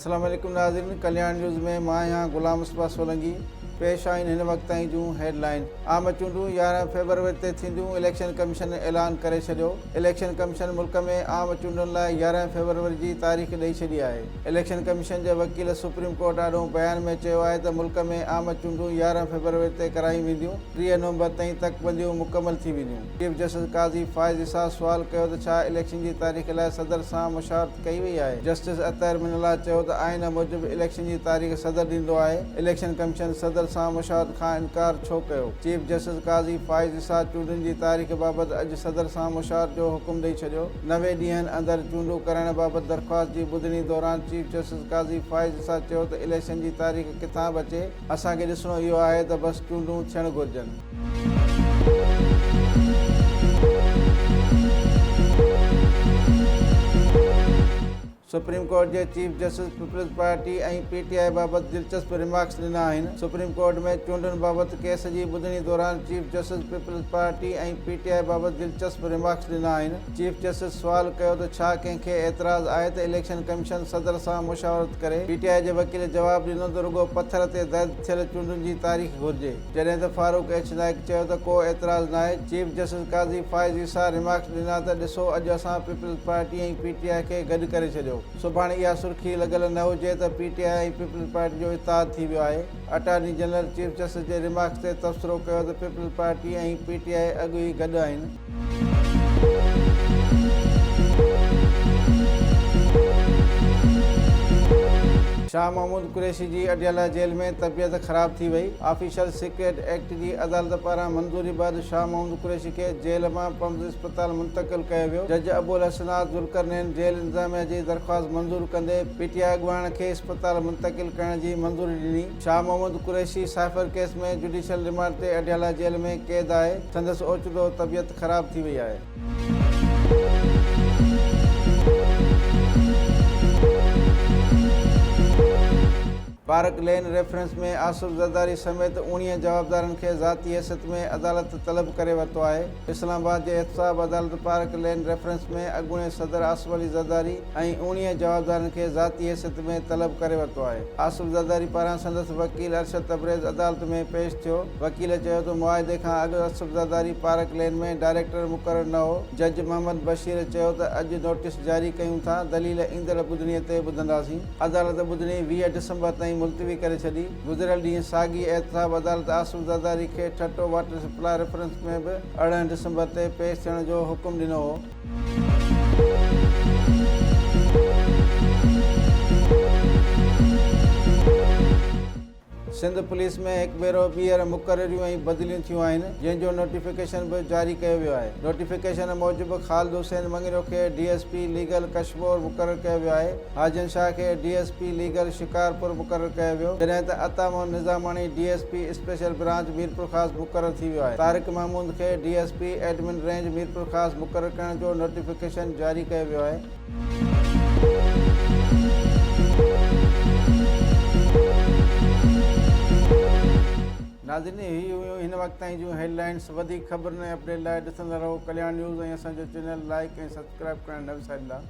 السلام عليڪم ناظرين ڪلياڻ نيوز ۾ مان آهيان غلام مصباح سولنگي پيش آهن هن وقت تائين جون هيڊ لائين عام چونڊون يارهن فيبروري تي ٿينديون اليڪشن ڪميشن اعلان ڪري ڇڏيو اليڪشن ڪميشن ملڪ ۾ عام چونڊن لاء يارهن فيبروري جي تاريخ ڏئي ڇڏي آهي. اليڪشن ڪميشن جي وڪيل سپريم ڪورٽ آڏو بيان ۾ چيو آهي ته ملڪ ۾ عام چونڊون يارهن فيبروري تي ڪرايون وينديون، ٽيهه نومبر تائين تڪ بنديون مڪمل ٿي وينديون. چيف جسٽس قاضي فائز عيسيٰ سوال ڪيو ته ڇا اليڪشن جي تاريخ لاء صدر سان مشاورت ڪئي وئي آهي. جسٽس اطهر من الله چيو ته آئين موجب اليڪشن جي تاريخ صدر ڏيندو آهي، اليڪشن ڪميشن صدر سان مشاهد کان انڪار ڇو ڪيو؟ چيف جسٽس قاضي فائز اسحاق چونڊن جي تاريخ بابت اڄ صدر سان مشاهد جو حڪم ڏئي ڇڏيو، نوي ڏينهن اندر چونڊون ڪرائڻ بابت درخواست جي ٻڌڻي دوران چيف جسٽس قاضي فائز اسحاق چيو ته اليڪشن جي تاريخ ڪٿان به اچي، اسان کي ڏسڻو اهو آهي ته بس چونڊون ٿيڻ گهرجن. سپريم ڪورٽ جي chief justice Peoples Party ۽ P T I بابت دلچسپ رمارڪس ڏنا آهن، سپريم ڪورٽ ۾ چونڊن بابت ڪيس جي ٻڌڻي دوران chief justice Peoples Party ۽ P T I بابت دلچسپ رمارڪس ڏنا آهن، چيف جسٽس سوال ڪيو ته ڇا ڪنهن کي اعتراض آهي ته اليڪشن ڪميشن صدر سان مشاورت ڪري؟ پي ٽي آء جي وڪيل جواب ڏنو ته رڳو پٿر تي درج ٿيل چونڊن جي تاريخ گهرجي. جڏهن ته فاروق ايڇ نائيڪ چيو ته ڪو اعتراض ناهي. Chief justice Qazi Faez Isa remarks ڏنا ته ڏسو اڄ اسان Peoples Party ۽ P T I کي گڏ ڪري ڇڏيو. سڀاڻي اها سرخي لڳل نه هجي ته P T I ۽ Peoples Party جو اتحاد ٿي ويو آهي. اٽارني جنرل چيف جسٽس جي رمارڪس تي تبصرو ڪيو ته Peoples Party ۽ P T I اڳ ئي گڏ آهن. شاهه محمود قريشي جي اڊيالا جيل ۾ طبيعت خراب ٿي وئي، آفيشل سيڪريٽ ايڪٽ جي عدالت پاران منظوري بعد شاهه محمود قريشي کي جيل مان پمز اسپتال منتقل ڪيو ويو، جج ابوالحسنات ذوالقرنين جيل انتظاميا جي درخواست منظور ڪندي پي ٽي آء اڳواڻ کي اسپتال منتقل ڪرڻ جي منظوري ڏني. Shah Mahmood Qureshi cipher case ۾ judicial remand تي اڊيالا جيل ۾ قيد آهي، سندس اوچتو طبيعت خراب ٿي وئي آهي. Park Lane reference ۾ Asif Zardari سميت اوڻيهه جوابدارن کي ذاتي حيثيت ۾ عدالت طلب ڪري ورتو آهي. اسلام آباد جي احتساب عدالت پارڪ لين ريفرنس ۾ اڳوڻي صدر آصف علي زرداري ۽ اوڻيهه جوابدارن کي ذاتي حيثيت ۾ طلب ڪري ورتو آهي. آصف زرداري پاران سندس وڪيل ارشد تبريز عدالت ۾ پيش ٿيو. وڪيل چيو ته معاهدي کان اڳ Asif Zardari Park Lane ۾ director مقرر نه هو. جج محمد بشير چيو ته اڄ نوٽيس جاري ڪيون ٿا، دليل ايندڙ ٻڌڻي تي ٻڌنداسين. عدالت ٻڌڻي ويهه ڊسمبر تائين ملتوي ڪري ڇڏي. گذريل ڏينهن ساڳي احتساب عدالت آصف زرداري کي ٺٽو واٽر سپلاء ريفرنس ۾ به ارڙهن ڊسمبر تي پيش ٿيڻ جو حڪم ڏنو هو. سنڌ پوليس ۾ هڪ ڀيرو ٻيهر مقرريون ۽ بدليون ٿيون آهن جنهن جو نوٽيفڪيشن به جاري ڪيو ويو آهي نوٽيفڪيشن موجب خالد حسين مڱريو کي D S P legal Kashmore مقرر ڪيو ويو آهي حاجن شاهه کي D S P legal Shikarpur مقرر ڪيو ويو جڏهن ته Ata Muhammad Nizamani D S P special branch Mirpurkhas مقرر ٿي ويو آهي طارق محمود کي D S P admin range Mirpurkhas مقرر ڪرڻ جو نوٽيفڪيشن جاري ڪيو ويو آهي. ناظرين هي هيون هن وقت تائين جون هيڊ لائينس وڌيڪ خبرن ۽ اپڊيٽ لاء ڏسندا رهو ڪلياڻ نيوز ۽ اسان جو چينل لائيڪ ۽ سبسڪرائيب ڪرڻ نه وساريندا.